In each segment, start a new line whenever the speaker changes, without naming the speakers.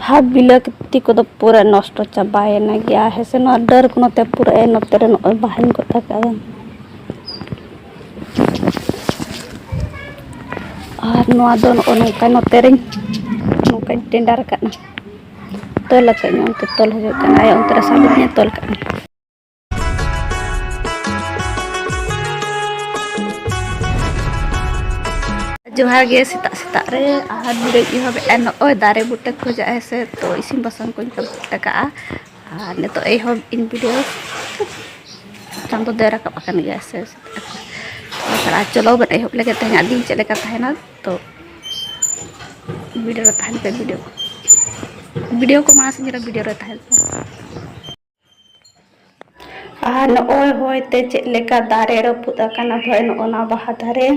ᱦᱟᱛ ᱵᱤᱞᱟᱹᱛᱤ ᱠᱚᱫᱚ ᱯᱩᱨᱟᱹ ᱱᱚᱥᱴᱚ ᱪᱟᱵᱟᱭᱮᱱᱟ ᱜᱮᱭᱟ ᱦᱮᱸᱥᱮ ᱱᱚᱣᱟ ᱰᱟᱹᱨ ᱠᱚ ᱱᱚᱛᱮ ᱯᱩᱨᱟᱹ ᱮ ᱱᱚᱛᱮ ᱨᱮ ᱱᱚᱜᱼᱚᱭ ᱵᱟᱦᱟᱧ ᱜᱚᱫ ᱟᱠᱟᱫᱟ ᱟᱨ ᱱᱚᱣᱟ ᱫᱚ ᱱᱚᱜᱼᱚᱭ ᱱᱚᱝᱠᱟ ᱱᱚᱛᱮ ᱨᱮᱧ ᱱᱚᱝᱠᱟᱧ ᱴᱮᱸᱰᱟᱨ ᱟᱠᱟᱫᱼᱟ ᱛᱚᱞ ᱟᱠᱟᱫᱟᱹᱧ ᱚᱱᱛᱮ ᱛᱚᱞ ᱦᱩᱭᱩᱜ ᱠᱟᱱᱟ ᱟᱭᱟᱜ ᱚᱱᱛᱮ ᱨᱮ ᱥᱟᱵ ᱟᱹᱫᱤᱧᱟ ᱛᱚᱞ ᱠᱟᱜᱼᱟᱹᱧ ᱡᱚᱦᱟᱨ ᱜᱮ ᱥᱮᱛᱟᱜ ᱥᱮᱛᱟᱜ ᱨᱮ ᱟᱦᱟᱨ ᱵᱤᱨᱟᱹᱧ ᱮᱦᱚᱵᱮᱜᱼᱟ ᱱᱚᱜᱼᱚᱭ ᱫᱟᱨᱮ ᱵᱩᱴᱟᱹ ᱠᱚ ᱡᱟᱜ ᱦᱮᱸᱥᱮ ᱛᱚ ᱤᱥᱤᱱ ᱵᱟᱥᱟᱝ ᱠᱚᱧ ᱠᱚᱢᱯᱞᱤᱴ ᱟᱠᱟᱫᱼᱟ ᱟᱨ ᱱᱤᱛᱚᱜ ᱮᱦᱚᱵ ᱤᱧ ᱵᱷᱤᱰᱤᱭᱳ ᱪᱟᱸᱫᱚ ᱫᱚᱭ ᱨᱟᱠᱟᱵ ᱟᱠᱟᱱ ᱜᱮᱭᱟ ᱥᱮ ᱥᱮᱛᱟᱜ ᱪᱚᱞᱚ ᱵᱚᱱ ᱮᱦᱚᱵ ᱞᱮᱜᱮ ᱛᱮᱦᱮᱧᱟᱜ ᱫᱤᱱ ᱪᱮᱫ ᱞᱮᱠᱟ ᱛᱟᱦᱮᱱᱟ ᱛᱚ ᱵᱷᱤᱰᱤᱭᱳ ᱨᱮ ᱛᱟᱦᱮᱱ ᱯᱮ ᱵᱷᱤᱰᱤᱭᱳ ᱵᱷᱤᱰᱤᱭᱳ ᱠᱚ ᱢᱟᱲᱟᱝ ᱥᱮᱫ ᱵᱷᱤᱰᱤᱭᱳ ᱨᱮ ᱛᱟᱦᱮᱱ ᱯᱮ ᱟᱨ ᱱᱚᱜᱼᱚᱭ ᱦᱚᱭᱛᱮ ᱪᱮᱫ ᱞᱮᱠᱟ ᱫᱟᱨᱮ ᱨᱟᱹᱯᱩᱫ ᱟᱠᱟᱱᱟ ᱵᱷᱟᱹᱭ ᱱᱚᱜᱼᱚᱱᱟ ᱵᱟᱦᱟ ᱫᱟᱨᱮ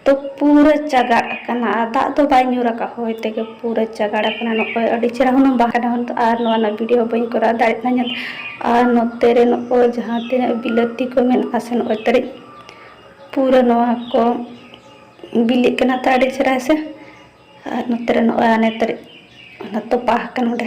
ᱛᱚ ᱯᱩᱨᱟᱹ ᱪᱟᱜᱟᱲ ᱟᱠᱟᱱᱟ ᱟᱨ ᱫᱟᱜ ᱫᱚ ᱵᱟᱭ ᱧᱩᱨ ᱟᱠᱟᱫ ᱦᱚᱭ ᱛᱮᱜᱮ ᱯᱩᱨᱟᱹ ᱪᱟᱜᱟᱲ ᱟᱠᱟᱱᱟ ᱱᱚᱜᱼᱚᱭ ᱟᱹᱰᱤ ᱪᱮᱦᱨᱟ ᱦᱩᱱᱟᱹᱝ ᱵᱟᱦᱟ ᱰᱟᱦᱚᱱ ᱫᱚ ᱟᱨ ᱱᱚᱣᱟ ᱨᱮᱱᱟᱜ ᱵᱷᱤᱰᱤᱭᱳ ᱵᱟᱹᱧ ᱠᱚᱨᱟᱣ ᱫᱟᱲᱮᱭᱟᱜ ᱠᱟᱱᱟ ᱟᱨ ᱱᱚᱛᱮ ᱨᱮ ᱱᱚᱜᱼᱚᱭ ᱡᱟᱦᱟᱸ ᱛᱤᱱᱟᱹᱜ ᱵᱤᱞᱟᱹᱛᱤ ᱠᱚ ᱢᱮᱱᱟᱜᱼᱟ ᱥᱮ ᱱᱚᱜᱼᱚᱭ ᱛᱟᱹᱨᱤᱡ ᱯᱩᱨᱟᱹ ᱱᱚᱣᱟ ᱠᱚ ᱵᱤᱞᱤᱜ ᱠᱟᱱᱟ ᱛᱚ ᱟᱹᱰᱤ ᱪᱮᱦᱨᱟ ᱥᱮ ᱟᱨ ᱱᱚᱛᱮ ᱨᱮ ᱱᱚᱜᱼᱚᱭ ᱟᱱᱮ ᱛᱟᱹᱨᱤᱡ ᱚᱱᱟ ᱛᱚᱯᱟ ᱟᱠᱟᱱᱟ ᱚᱸᱰᱮ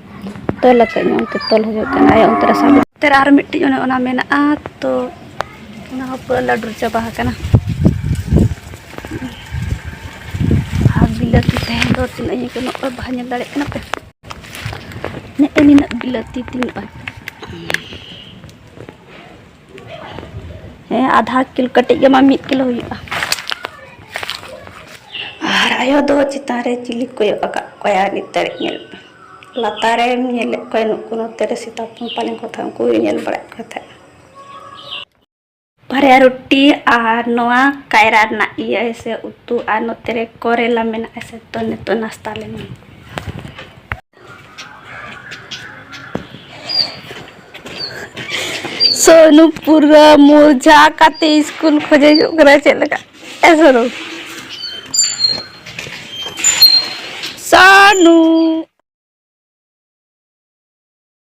ᱛᱚᱞ ᱟᱠᱟᱫ ᱧᱚᱜ ᱚᱱᱛᱮ ᱛᱚᱞ ᱦᱩᱭᱩᱜ ᱠᱟᱱᱟ ᱟᱭᱟᱜ ᱚᱱᱛᱮ ᱨᱮ ᱥᱟᱵ ᱚᱱᱛᱮ ᱨᱮ ᱟᱨ ᱢᱤᱫᱴᱤᱡ ᱚᱱᱮ ᱚᱱᱟ ᱢᱮᱱᱟᱜᱼᱟ ᱛᱚ ᱚᱱᱟ ᱦᱚᱸ ᱯᱩᱨᱟᱹ ᱞᱟᱹᱰᱩᱨ ᱪᱟᱵᱟ ᱟᱠᱟᱱᱟ ᱟᱨ ᱵᱤᱞᱟᱹᱛᱤ ᱛᱟᱦᱮᱸ ᱫᱚ ᱛᱤᱱᱟᱹᱜ ᱤᱧ ᱠᱟᱱᱟ ᱚᱠᱚᱭ ᱵᱟᱦᱟ ᱧᱮᱞ ᱫᱟᱲᱮᱭᱟᱜ ᱠᱟᱱᱟ ᱯᱮ ᱱᱮᱜᱼᱮ ᱱᱤᱱᱟᱹᱜ ᱵᱤᱞᱟᱹᱛᱤ ᱛᱤᱧ ᱵᱟᱝ ᱦᱮᱸ ᱟᱫᱷᱟ ᱠᱤᱞᱳ ᱠᱟᱹᱴᱤᱡ ᱜᱮ ᱢᱟ ᱢᱤᱫ ᱠᱤᱞᱳ ᱦᱩᱭᱩᱜᱼᱟ ᱟᱨ ᱟᱭᱳ ᱫᱚ ᱪᱮᱛᱟᱱ ᱨᱮ ᱪᱤᱞᱤ ᱠᱚᱭᱚᱜ ᱟᱠᱟᱫ ᱠᱚᱣᱟ ᱱᱤᱛ ᱫᱷᱟᱹᱨᱤᱡ ᱧᱮᱞ ᱞᱟᱛᱟᱨ ᱨᱮ ᱧᱮᱞᱮᱫ ᱠᱚᱣᱟ ᱱᱩᱠᱩ ᱱᱚᱛᱮ ᱨᱮ ᱥᱮᱛᱟ ᱦᱚᱯᱚᱱ ᱯᱟᱞᱮᱱ ᱠᱚ ᱛᱟᱦᱮᱸ ᱩᱱᱠᱩ ᱜᱮ ᱧᱮᱞ ᱵᱟᱲᱟᱭᱮᱫ ᱠᱚ ᱛᱟᱦᱮᱸᱫ ᱵᱟᱨᱭᱟ ᱨᱩᱴᱤ ᱟᱨ ᱱᱚᱣᱟ ᱠᱟᱭᱨᱟ ᱨᱮᱱᱟᱜ ᱤᱭᱟᱹ ᱥᱮ ᱩᱛᱩ ᱟᱨ ᱱᱚᱛᱮ ᱨᱮ ᱠᱚᱨᱮᱞᱟ ᱢᱮᱱᱟᱜᱼᱟ ᱥᱮ ᱛᱚ ᱱᱤᱛᱚᱜ ᱱᱟᱥᱛᱟ ᱞᱮᱱᱟ ᱥᱩᱱᱩ ᱯᱩᱨᱟᱹ ᱢᱚᱡᱟ ᱠᱟᱛᱮ ᱤᱥᱠᱩᱞ ᱠᱷᱚᱡᱮ ᱦᱤᱡᱩᱜ ᱠᱟᱱᱟ ᱪᱮᱫ ᱞᱮᱠᱟ ᱮ ᱥᱩᱱᱩ ᱥᱟᱱᱩ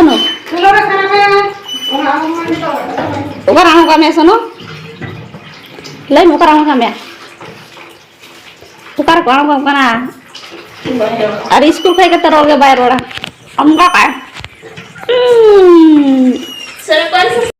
ᱥᱚᱱᱚ ᱚᱠᱟᱨᱮ ᱟᱬᱜᱚ ᱠᱟᱜ ᱢᱮᱭᱟ ᱥᱚᱱᱚ ᱞᱟᱹᱭ ᱢᱮ ᱚᱠᱟᱨᱮ ᱟᱬᱜᱚ ᱠᱟᱜ ᱢᱮᱭᱟ ᱚᱠᱟᱨᱮ ᱠᱚ ᱟᱬᱜᱚ ᱠᱟᱱᱟ ᱟᱨ ᱥᱠᱩᱞ ᱠᱷᱚᱡ ᱠᱟᱛᱮ ᱨᱚᱲ ᱜᱮ ᱵᱟᱭ ᱨᱚᱲᱟ ᱚᱱᱠᱟ ᱠᱟᱜᱼᱟ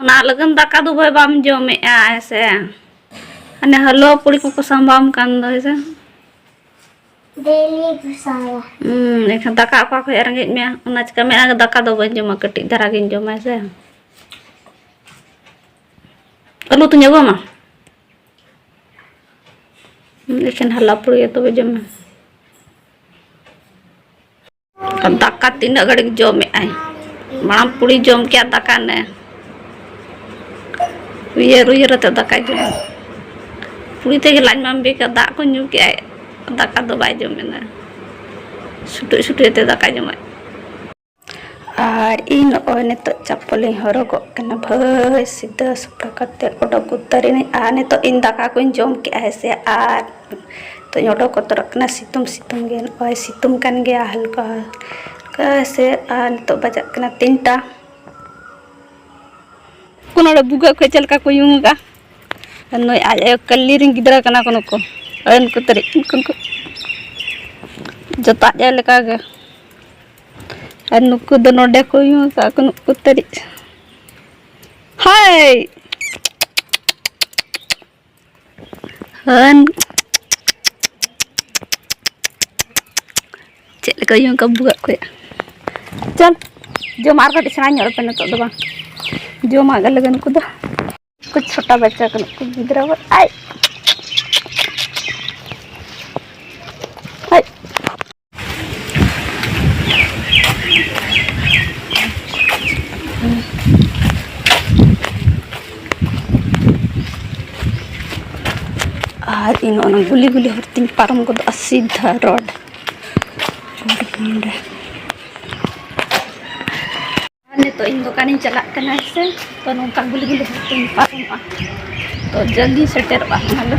ᱚᱱᱟ ᱞᱟᱹᱜᱤᱫ ᱫᱟᱠᱟ ᱫᱚ ᱵᱷᱟᱹᱭ ᱵᱟᱢ ᱡᱚᱢᱮᱜᱼᱟ ᱦᱮᱸᱥᱮ ᱦᱟᱱᱮ ᱦᱟᱹᱞᱣᱟ ᱯᱩᱲᱤ ᱠᱚᱠᱚ ᱥᱟᱢᱵᱟᱣᱟᱢ ᱠᱟᱱ ᱫᱚ ᱦᱮᱸᱥᱮ ᱰᱮᱞᱤ ᱠᱚ ᱥᱟᱢᱵᱟᱣᱟ ᱦᱩᱸ ᱮᱱᱠᱷᱟᱱ
ᱫᱟᱠᱟ
ᱚᱠᱟ ᱠᱷᱚᱡ ᱨᱮᱸᱜᱮᱡ ᱢᱮᱭᱟ ᱚᱱᱟ ᱪᱤᱠᱟ ᱢᱮᱱᱟ ᱫᱟᱠᱟ ᱫᱚ ᱵᱟᱹᱧ ᱡᱚᱢᱟ ᱠᱟᱹᱴᱤᱡ ᱫᱷᱟᱨᱟ ᱜᱤᱧ ᱡᱚᱢᱟ ᱦᱮᱸᱥᱮ ᱟᱹᱞᱩ ᱛᱤᱧ ᱟᱹᱜᱩᱣᱟᱢᱟ ᱮᱠᱷᱮᱱ ᱦᱟᱞᱟ ᱯᱩᱲᱤ ᱛᱚᱵᱮ ᱡᱚᱢ ᱢᱮ ᱫᱟᱠᱟ ᱛᱤᱱᱟᱹᱜ ᱜᱷᱟᱹᱲᱤᱡ ᱡᱚᱢᱮᱫ ᱟᱭ ᱢᱟᱲᱟᱝ ᱯᱩᱲᱤ ᱡᱚᱢ ᱠᱮᱫᱟ ᱫᱟᱠᱟ ᱱᱮ ᱩᱭᱦᱟᱹᱨ ᱩᱭᱦᱟᱹᱨ ᱟᱛᱮ ᱫᱟᱠᱟᱭ ᱡᱚᱢ ᱯᱩᱲᱤ ᱛᱮᱜᱮ ᱞᱟᱡ ᱢᱟᱢ ᱵᱮᱠᱟ ᱫᱟᱜ ᱠᱚ ᱧᱩ ᱠᱮᱫ ᱟᱭ ᱫᱟᱠᱟ ᱫᱚ ᱵᱟᱭ ᱡᱚᱢᱮᱱᱟ ᱥᱩᱴᱩᱡ ᱥᱩᱴᱩᱡ ᱟᱛᱮ ᱫᱟᱠᱟᱭ ᱡᱚᱢᱟᱭ ᱟᱨ ᱤᱧ ᱱᱚᱜᱼᱚᱭ ᱱᱤᱛᱚᱜ ᱪᱟᱯᱚᱞᱤᱧ ᱦᱚᱨᱚᱜᱚᱜ ᱠᱟᱱᱟ ᱵᱷᱟᱹᱭ ᱥᱤᱫᱷᱟᱹ ᱥᱟᱯᱷᱟ ᱠᱟᱛᱮ ᱚᱰᱚᱠ ᱩᱛᱟᱹᱨᱤᱱᱟᱹᱧ ᱟᱨ ᱱᱤᱛᱚᱜ ᱤᱧ ᱫᱟᱠᱟ ᱠᱚᱧ ᱡᱚᱢ ᱠᱮᱜᱼᱟ ᱦᱮᱸ ᱥᱮ ᱟᱨ ᱱᱤᱛᱚᱜ ᱚᱰᱚᱠ ᱵᱚᱛᱚᱨᱚᱜ ᱠᱟᱱᱟ ᱥᱤᱛᱩᱝ ᱥᱤᱛᱩᱝ ᱜᱮ ᱱᱚᱜᱼᱚᱸᱭ ᱥᱤᱛᱩᱝ ᱠᱟᱱ ᱜᱮᱭᱟ ᱦᱟᱞᱠᱟ ᱦᱟᱞᱠᱟ ᱥᱮ ᱟᱨ ᱱᱤᱛᱚᱜ ᱵᱟᱡᱟᱜ ᱠᱟᱱᱟ ᱛᱤᱱᱴᱟ ᱩᱱᱠᱩ ᱱᱚᱰᱮ ᱵᱷᱩᱜᱟᱹᱜ ᱠᱷᱚᱡ ᱪᱮᱫ ᱞᱮᱠᱟ ᱠᱚ ᱩᱭᱩᱝ ᱟᱠᱟᱜᱼᱟ ᱟᱨ ᱱᱩᱭ ᱟᱡ ᱟᱭᱳ ᱠᱟᱹᱞᱤ ᱨᱮᱱ ᱜᱤᱫᱽᱨᱟᱹ ᱠᱟᱱᱟ ᱠᱚ ᱱᱩᱠᱩ ᱟᱨ ᱩᱱᱠᱩ ᱛᱟᱹᱨᱤᱡ ᱩᱱᱠᱩ ᱩᱱᱠᱩ ᱡᱚᱛᱚ ᱟᱡ ᱟᱭᱳ ᱞᱮᱠᱟ ᱜᱮ ᱟᱨ ᱱᱩᱠᱩ ᱫᱚ ᱱᱚᱰᱮ ᱠᱚ ᱩᱭᱩᱝ ᱟᱠᱟᱜᱼᱟ ᱠᱚ ᱱᱩᱠᱩ ᱛᱟᱹᱨᱤᱡ ᱦᱟᱭ ᱦᱟᱹᱱ ᱪᱮᱫ ᱞᱮᱠᱟ ᱤᱭᱟᱹ ᱚᱱᱠᱟ ᱵᱩᱜᱟᱜ ᱠᱚᱭᱟ ᱪᱚᱞ ᱡᱚᱢ ᱟᱨ ᱠᱟᱹᱴᱤᱡ ᱥᱮᱬᱟ ᱧᱚᱜ ᱨᱮᱯᱮ ᱱᱤᱛᱚᱜ ᱫᱚ ᱵᱟᱝ ᱡᱚᱢᱟᱜ ᱜᱮ ᱞᱟᱹᱜᱤᱫ ᱩᱱᱠᱩ ᱫᱚ ᱠᱚ ᱪᱷᱚᱴᱟ ᱵᱟᱪᱪᱟ ᱠᱟᱱᱟ ᱠᱚ ᱜᱤᱫᱽᱨᱟᱹ ᱟᱭ ᱟᱨ ᱤᱧ ᱚᱱᱟ ᱜᱩᱞᱤ ᱜᱩᱞᱤ ᱦᱚᱨ ᱛᱮᱧ ᱯᱟᱨᱚᱢ ᱜᱚᱫᱚᱜᱼᱟ ᱥᱤᱫᱷᱟ ᱨᱳᱰ ᱱᱤᱛᱚᱜ ᱤᱧ ᱫᱚᱠᱟᱱᱤᱧ ᱪᱟᱞᱟᱜ ᱠᱟᱱᱟ ᱥᱮ ᱛᱚ ᱱᱚᱝᱠᱟ ᱜᱩᱞᱤ ᱜᱩᱞᱤ ᱦᱚᱨ ᱛᱮᱧ ᱯᱟᱨᱚᱢᱚᱜᱼᱟ ᱛᱚ ᱡᱚᱞᱫᱤ ᱥᱮᱴᱮᱨᱚᱜᱼᱟ ᱚᱱᱟ ᱫᱚ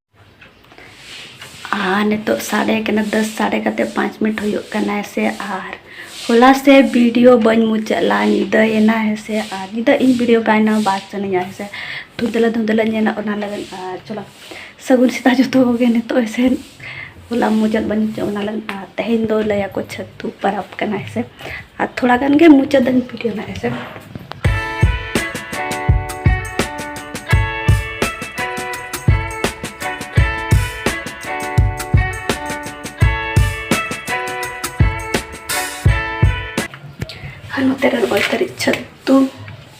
ᱟᱨ ᱱᱤᱛᱚᱜ ᱥᱟᱰᱮ ᱠᱟᱱᱟ ᱫᱚᱥ ᱥᱟᱰᱮ ᱠᱟᱛᱮ ᱯᱟᱸᱪ ᱢᱤᱱᱤᱴ ᱦᱩᱭᱩᱜ ᱠᱟᱱᱟ ᱥᱮ ᱟᱨ ᱦᱚᱞᱟ ᱥᱮ ᱵᱷᱤᱰᱤᱭᱳ ᱵᱟᱹᱧ ᱢᱩᱪᱟᱹᱫ ᱞᱟ ᱧᱤᱫᱟᱹᱭᱮᱱᱟ ᱦᱮᱸᱥᱮ ᱟᱨ ᱧᱤᱫᱟᱹ ᱤᱧ ᱵᱷᱤᱰᱤᱭᱳ ᱵᱟᱭᱱᱟ ᱵᱟᱭ ᱥᱟᱱᱟᱧᱟ ᱦᱮᱸᱥᱮ ᱫᱷᱩᱸᱫᱽᱞᱟᱹ ᱫᱷᱩᱸᱫᱽᱞᱟᱹ ᱧᱮᱞᱚᱜ ᱚᱱᱟ ᱞᱟᱹᱜᱤᱫ ᱟᱨ ᱪᱚᱞᱚ ᱥᱟᱹᱜᱩᱱ ᱥᱮᱛᱟᱜ ᱡᱚᱛᱚ ᱠᱚᱜᱮ ᱱᱤᱛᱚᱜ ᱦᱮᱸᱥᱮ ᱦᱚᱞᱟ ᱢᱩᱪᱟᱹᱫ ᱵᱟᱹᱧ ᱢᱩᱪᱟᱹᱫ ᱚᱱᱟ ᱞᱟᱹᱜᱤᱫ ᱟᱨ ᱛᱮᱦᱮᱧ ᱫᱚ ᱞᱟᱹᱭᱟᱠᱚ ᱪᱷᱟᱹᱛᱩ ᱯᱟᱨᱟᱵᱽ ᱠᱟᱱᱟ ᱦᱮᱸᱥᱮ ᱟᱨ ᱛᱷᱚᱲᱟ ᱜᱟᱱ ᱜᱮ ᱢᱩᱪᱟᱹᱫᱟᱹᱧ ᱵᱷᱤᱰᱤᱭᱳ ᱱᱟ ᱦᱮᱸᱥᱮ ᱟᱨ ᱱᱚᱛᱮ ᱨᱮ ᱱᱚᱜᱼᱚᱭ ᱛᱟᱹᱨᱤᱡ ᱪᱷᱟᱹᱛᱩ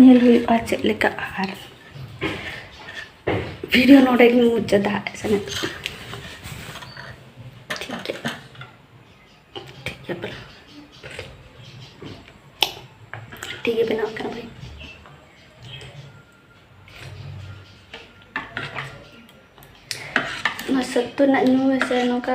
ᱧᱮᱞ ᱦᱩᱭᱩᱜᱼᱟ ᱪᱮᱫ ᱞᱮᱠᱟ ᱟᱨ ᱵᱷᱤᱰᱤᱭᱳ ᱱᱚᱰᱮ ᱜᱮ ᱢᱩᱪᱟᱹᱫᱟ ᱥᱮᱱᱮᱫ ᱴᱷᱤᱠ ᱜᱮ ᱵᱮᱱᱟᱣ ᱠᱟᱱᱟ ᱵᱷᱟᱹᱭ ᱱᱚᱣᱟ ᱥᱟᱹᱛᱩ ᱨᱮᱱᱟᱜ ᱧᱩ ᱥᱮ ᱱᱚᱝᱠᱟ